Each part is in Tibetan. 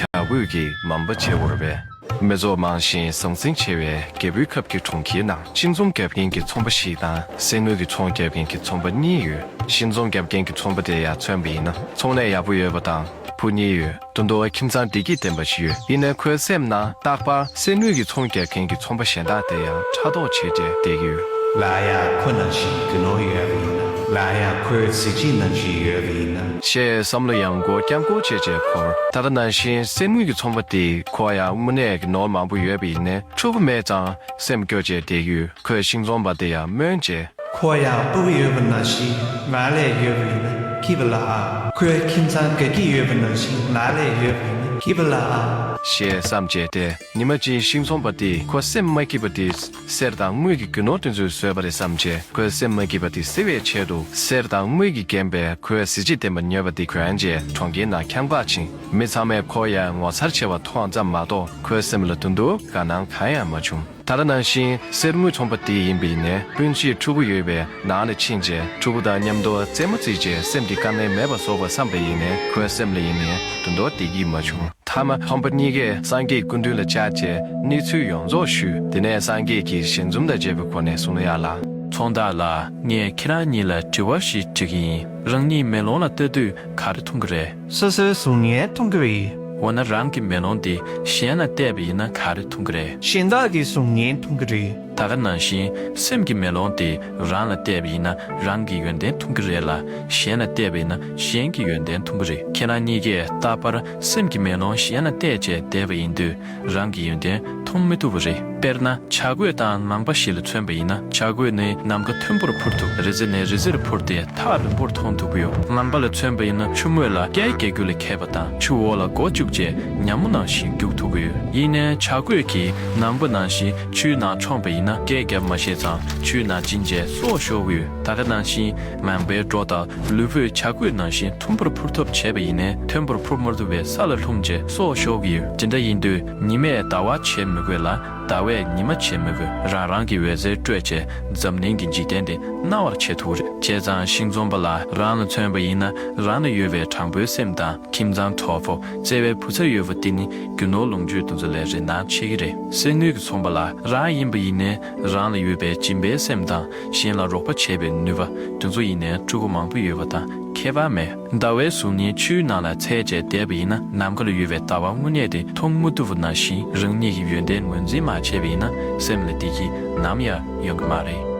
བྱ་རྒོད་ཀྱི་འམ་པ་བྱེད་བོར་བའི། མི་ཚོགས་མང་ཞིང་ཟང་ཟིང་ཆེ་བའི་རྒད་པོའི་ཁབ་ཀྱི་གྲོང་ཁྱེར་ནང་ཤིང་ཚོང་རྒྱག་མཁན་གྱི་ཚོང་པ་ཞིག་དང་གསེར་དངུལ་གྱི་ཚོང་རྒྱག་མཁན་གྱི་ཚོང་པ་གཉིས་ཡོད་ཤིང་ཚོང་རྒྱག་མཁན་གྱི་ཚོང་པ་དེ་ཡར་མཚོན་པ་ཡིན་ན་ཚོང་ལས་ཡག་པོ་ཡོད་པ་དང་བུ་གཉིས་ཡོད་དུ་འདུག་ཁྱིམ་ཚང་བདེ་སྐྱིད་ལྡན་པ་ཞིག་ཡོད་ཡིན་ན་ཁོའི་སེམས་ནང་རྟག་པར་གསེར་དངུལ་གྱི་ཚོང་རྒྱག་མཁན་གྱི་ཚོང་པ་གཞན་དག་དེ་ཡང་ཕྲག་དོག་བྱེད་དེ་བསྡད་ཀྱི་ཡོད། སླར་ཡང་ཁོ་ནང་བཞིན་རྒྱུ་ནོར་ཡོད་པ་ཡིན་ན་སླར་ཡང་ཁོའི་གཟི་བརྗིད་ནང་བཞིན་ཡོད་པ་ཡིན་ན་ཞེས་བསམ་བློ་ཡང་སྒོ་བསྐྱར་སྒོ་འབྱེད་བྱས་འཁོར། ད་ལྟ་ནང་བཞིན་གསེར་དངུལ་གྱི་ཚོང་པ་དེ་ཁོ་ཡང་དངོས་གནས་ཀྱི་ནོར་མང་པོ་ཡོད་པ་ཡིན་ནས་ཕྲུ་གུ་མེད་ཙང་སེམས་སྐྱོ་བྱས་བསྡད་ཡོད་ཁོས་ཤིང་ཚོང་པ་དེ་ཡང་སྨོན་བྱས། ཁོ་ཡང་སྤུ་གུ་ཡོད་པ་ནང་བཞིན་ང་ལས་ཡོད་པ་ཡིན་ན་སྐྱིད་པ་ལ་ཨང། ཁོའི་ཁྱིམ་ཚང་དགའ་སྐྱིད་ཡོད་པ་ནང་བཞིན་ང་ལས་ཡོད་པ་ཡིན་ན་སྐྱིད་པ་ལ་ཨང། ཞེས་བསམ་བྱས་ཏེ་ཉི་མ་གཅིག་ཤིང་ཚོང་པ་དེས་ཁོ་སེམས་མ་སྐྱིད་པ་དེ་གསེར་དང་དངུལ་གྱི་རྒྱུ་ནོར་དེ་ཚོས་བཟོས་པ་རེད་བསམ་ཆེད་ཁོའི་སེམས་མ་སྐྱིད་པ་དེ་སེལ་བའི་ཆེད་དུ་གསེར་དང་དངུལ་གྱིས་བརྒྱན་པའི་ཁོའི་གཟི་བརྗིད་ལྡན་པ་ཉོས་པ་དེ་གྱོན་རྗེས་གྲོང་ཁྱེར་ནང་འཁྱམས་འགག་ཕྱིན། མི་ཚང་མས་ཁོ་ཡར་ངོ་མཚར་ཆེ་བ་མཐོང་ཙམ་མ་གཏོགས་ཁོའི་སེམས་ལ་དུ་འདུག་དགའ་སྣང་གང་ཡང་མ་བྱུང། ད་ལྟ་ནང་བཞིན་གསེར་དངུལ་ཚོང་པ་དེ་ཡིན་པ་ཡིན་ནས་སྤུན་མཆེད་ཕྲུ་གུ་ཡོད་པའི་ནང་ལ་ཕྱིན་རྗེས་ཕྲུ་གུ་དང་མཉམ་དུ་རྩེད་མོ་རྩེས་རྗེས་སེམས་ཀྱི་དཀའ་ངལ་མེད་པ་བཟོ་བར་བསམ་པ་ཡིན་ནས་ཁོའི་སེམས་ལ་ཡེ་ནས་དུ་འདོགས་བདེ་སྐྱིད་མ་བྱུང། ཐ་མ་ཕམ་པ་གཉིས་ཀས་སངས་རྒྱས་སྐུ་མདུན་ལ་བཅར་རྗེས་གནས་ཚུལ་ཡོངས་རྫོགས་ཞུས་དེ་ནས་སངས་རྒྱས་ཀྱིས་ཞལ་འཛུམ་དང་བཅས་པའི་སྒོ་ནས་གསུང་ལན་གཡར་ལ། ཚོང་བདག་ལགས་ངས་ཁྱེད་རང་གཉིས་ལ་དྲི་བ་ཞིག་འདྲི་གི་ཡིན་རང་གཉིས་མེ་ལོང་ལ་ལྟ་དུས་ག་རེ་མཐོང་གི་རེད། སོ་སོའི་གཟུགས་བརྙན་མཐོང་གི་རེད། འོ་ན་རང་གི་མེ་ལོང་འདི་གཞན་ལ་བལྟས་པ་ཡིན་ན་ག་རེ་མཐོང་གི་རེད། གཞན་དག་གི་གཟུགས་བརྙན་མཐོང་གི་རེད། ད་ག་ནང་བཞིན་སེམས་ཀྱི་མེ་ལོང་དེ་རང་ལ་གཏད་པ་ཡིན་ན་རང་གི་ཡོན་ཏན་འཐུང་གི་རེད་ལ་གཞན་ལ་གཏད་པ་ཡིན་ན་གཞན་གྱི་ཡོན་ཏན་འཐུང་གི་རེད་ཁྱེད་རང་གཉིས་ཀས་ད་བར་སེམས་ཀྱི་མེ་ལོང་གཞན་ལ་གཏད་བཅས་བསྡད་པ་ཡིན་དུས་རང་གི་ཡོན་ཏན་འཐུང་མི་ཐུབ་པ་རེད་དཔེར་ན་བྱ་རྒོད་དང་ནང་པ་ཞིག་ལ་མཚོན་པ་ཡིན་ན་བྱ་རྒོད་ནི་ནམ་མཁའ་མཐོན་པོར་འཕུར་ཐུབ་རི་རྩེ་ནས་རི་རྩེར་འཕུར་ཏེ་ཐག་རིང་པོར་མཐོང་ཐུབ་ཀྱི་ཡོད་ནང་པ་ལ་མཚོན་པ་ཡིན་ན་ཆུ་ངོས་ལ་རྐྱལ་རྐྱལ་རྒྱུག་ལ་ཁད་པ་དང་ཆུ་འོག་ལ་མགོ་བཅུག་བཅས་ཉམས་མོ་ནང་བཞིན་རྒྱུག་ཐུབ་ཀྱི་ཡོད་ཡིན་ནའི་བྱ་རྒོད་ཀྱིས་ནང་པ་ནང་བཞིན་ཆུའི་ནང་མཆོངས་པ་ཡིན་ན་སྐད་བརྒྱབ་མ་ཤེས་ཙང་ཆུའི་ནང་ཅི་མཇལ་སོགས་ཤོག་བུའི་ད་ག་ནང་བཞིན་ངང་པའི་སྒྲོ་དང་ལུས་པོའི་བྱ་རྒོད་ནང་བཞིན་མཐོན་པོར་འཕུར་ཐབས་བྱས་པ་ཡིན་ནས་མཐོན་པོར་འཕུར་མ་ཐུབ་པས་ས་ལ་ལྷུང་མཇལ་སོགས་ཤོག་བུ་ཇི་འདྲ་ཡིན་དུས་ཉི་མས་ཟླ་བ་བྱེད་མི་དགོས་ལ་ཟླ་བས་ཉི་མ་བྱེད་མི་དགོས་རང་རང་གི་འོད་ཟེར་སྤྲོས་བཅས་འཛམ་གླིང་གི་འཇིག་རྟེན་འདི་སྣང་བར་བྱེད་ཐུག་རེ་བྱས་ཙང་ཤིང་འཛོམས་པ་ལ་རང་ལ་མཚོན་པ་ཡིན་ན་རང་ལ་ཡོད་པའི་དྲང་པོའི་སེམས་དང། ཁྱིམ་ཚང་གྲོགས་པོ་བརྩེ་བའི་བུ་ཚ་ཡོད་པ་དེ་ནི་རྒྱུ་ནོར་ལོངས་སྤྱོད་འདུ་འཛོ་ལས་རེ་ན་ཆེ་གི་རེད་གསེར་དངུལ་གྱི་ཚོང་པ་ལ་རང་ཡིན་པ་ཡིན་ནའི་རང་ལ་ཡོད་པའི་སྦྱིན་པའི་སེམས་དང་གཞན་ལ་རོགས་པ་བྱེད་པའི་ནུས་པ་འདུ་འཛོ་ཡིན་ནའི་ཕྲུ་གུ་མང་པོ་ཡོད་པ་དང་ཁྱད་པར་མེ་ཟླ་བའི་གཟུགས་བརྙན་ཆུའི་ནང་ལ་ཚད་བཅད་བསྡད་པ་ཡིན་ན་ནམ་མཁའ་ལ་ཡོད་པའི་ཟླ་བ་དངོས་གནས་དེ་མཐོང་མི་ཐུབ་པ་ནང་བཞིན་རང་ཉིད་ཀྱི་ཡོན་ཏན་ངོས་འཛིན་མ་བྱས་པ་ཡིན་ན་སེམས་ལ་བདེ་སྐྱིད་ནམ་ཡང་ཡོང་གི་མ་རེད།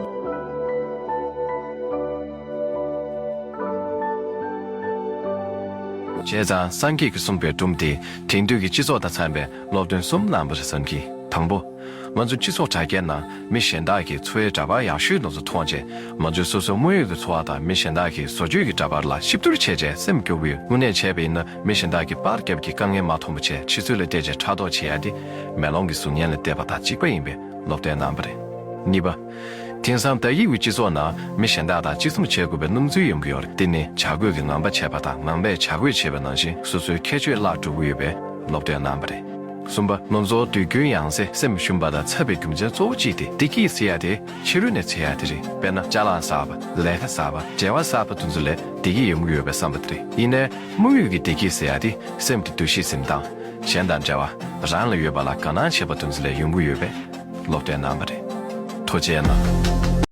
བྱས་ཙང་སངས་རྒྱས་ཀྱིས་གསུངས་པའི་སྒྲུབ་དེ་དེང་དུས་ཀྱི་སྤྱི་ཚོགས་དང་འཚམས་པའི་སློབ་སྟོན་གསུམ་བླངས་པ་རེད་བསམ་གི། དང་པོ། ང་ཚོ་སྤྱི་ཚོགས་དྲ་རྒྱའི་ནང་མི་གཞན་དག་གི་འཚོ་བའི་འདྲ་པར་ཡག་ཤོས་དག་ཚོ་མཐོང་རྗེས་ང་ཚོའི་སོ་སོའི་དངོས་ཡོད་ཀྱི་འཚོ་བ་དང་མི་གཞན་དག་གི་བཟོ་བཅོས་ཀྱི་འདྲ་པར་ལ་གཤིབ་བསྡུར་བྱས་རྗེས་སེམས་སྐྱོ་བོའི་དངོས་གནས་བྱས་པ་ཡིན་ན་མི་གཞན་དག་གི་པར་རྒྱབ་ཀྱི་དཀའ་ངལ་མ་མཐོང་པ་ཆེས་ཆེ་ཚུལ་ལ་བལྟས་རྗེས་ཕྲག་དོག་བྱེད་ཡ་དེ་མེ་ལོང་གི་གཟུགས་བརྙན་ལ་བལྟས་པ་དང་གཅིག་པ་ཡིན་པའི་སློབ་སྟོན་གནང་བ་རེད། གཉིས་པ། དེང་སང་དག་ཡིག་གི་སྤྱི་ཚོགས་ནང་མི་གཞན་དག་དང་གཅིག་མཚུངས་བྱེད་དགོས་པའི་སྣུམ་འཛུལ་ཡོང་གི་ཡོད་རེད་དེ་ནི་བྱ་རྒོད་ཀྱི་ངང་པ་བྱས་པ་དང་ངང་པས་བྱ་རྒོད་བྱས་པའི་ནང་བཞིན་སོ་སོའི་ཁྱད་ཆོས་བརླག་འགྲོ་གི་ཡོད་པའི་སློབ་སྟོན་གནང་བ་རེད། གསུམ་པ། ལོ་ཚོགས་དུས་རྒྱུན་ཡང་ཟེ་སེམས་ཞུམ་པ་དང་འཚབ་པའི་རྒྱུ་མཚན་གཙོ་བོ་གཅིག་དེ་བདེ་སྐྱིད་ཟེར་ཡ་དེ་ཕྱི་རོལ་ནས་ཚེ་ཡ་དེ་རེད་དཔེར་ན་ལྕགས་ལམ་གསར་པ་ལས་ཀ་གསར་པ་འབྲེལ་བ་གསར་པ་དེ་ཚོ་ལས་བདེ་སྐྱིད་ཡོང་གི་ཡོད་པའི་བསམ་པ་དེ་རེད་ཡིན་ནའི་དམིགས་ཡུལ་གྱི་བདེ་སྐྱིད་ཟེར་ཡ་དེ་སེམས་ཀྱི་འདུ་ཤེས་གཟིམ་སྟངས། གཞན་དང་འབྲེལ་བ་རང་ལ་ཡོད་པ་ལ་དགའ་སྣང་བྱེད་པ་འདུ་འཛི་ལས་ཡོང་གི་ཡོད་པས་ལོག་ལྟའི་རྣམ་པ་རེད། ཐོ་ཅལ་ན།